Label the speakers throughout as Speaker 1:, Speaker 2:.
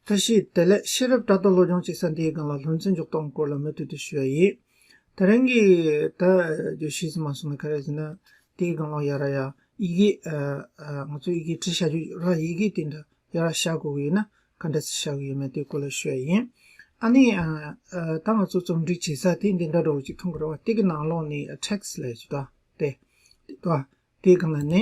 Speaker 1: བཀྲ་ཤིས་བདེ་ལེགས་ཤེས་རབ་བཀྲ་རྡོ་བློ་སྦྱོང་ཅིག་ས་འདིའི་སྒང་ལ་ལྷུན་རྩེ་མཇུག་གཏོགས་སྐོར་ལ་མུ་མཐུད་དུ་ཞུ་ཡ་ཡིན། ད་རིང་གི་ད་རྒྱུ་ཤིས་ཙི་མ་སོང་ནས་ཁ་རས་ཟིན་ན་དེའི་སྒང་ལ་ཡ་ར་ཡ་ཡི་གེ་ང་ཚོ་ཡི་གེ་བྲི་བྱ་རྒྱུ་ར་ཡི་གེ་དེ་འདྲ་ཡ་ར་བྱ་དགོས་གི་ཡོད་ན་ག་འདྲ་ཚིག་བྱ་གི་ཡོད་མེད་དེའི་སྐོར་ལ་ཞུ་ཡ་ཡིན། ཨ་ནི་ད་ང་ཚོ་རྩོམ་སྒྲིག་བྱེད་ས་དེ་འདི་འདྲ་འགྲོ་གི་ཅིག་མཐོང་གི་རེད་བ་དེ་གི་ནང་ལོགས་ནི text ལས་ཅི་ད་དེ། དེའི་སྒང་ལ་ནི།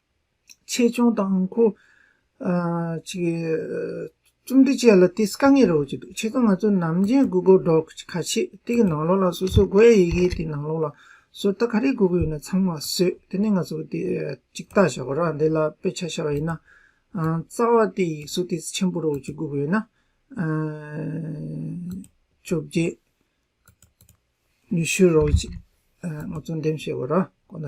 Speaker 1: ཆེད་སྦྱོང་དང་དང་པོ། རྩོམ་འབྲི་བཅས་ལ་དེ་དཀའ་ངལ་རོགས་ཀྱི་འདུག་ཆེད་དུ་ང་ཚོ་ནམ་རྒྱུན་སྒུག་སྒུག་འགྲོ་ག་ཆེད་དེ་གི་ནང་ལོགས་ལ་སོ་སོའི་སྒོ་ཡ་ཡི་གེ་དེ་ནང་ལོགས་ལ་སོ་ལྟ་ག་རེ་སྒུག་གི་ཡོད་ན་ཚང་མ་བཟོས་དེ་ནས་ང་ཚོ་དེ་གཅིག་བལྟ་བྱ་བ་རག་འདི་ལ་དཔེ་ཆ་བྱ་བ་ཡིན་ན། རྩ་བ་དེ་ཡིག་གཟུགས་དེ་ཆེན་པོ་རོགས་ཀྱི་སྒུག་གི་ཡོད་ན། བཅོ་བརྒྱད། ཉི་ཤུ་རོགས་ཀྱི་ང་ཚོ་འདེམས་བྱེད་བ་རག་གོ་ན།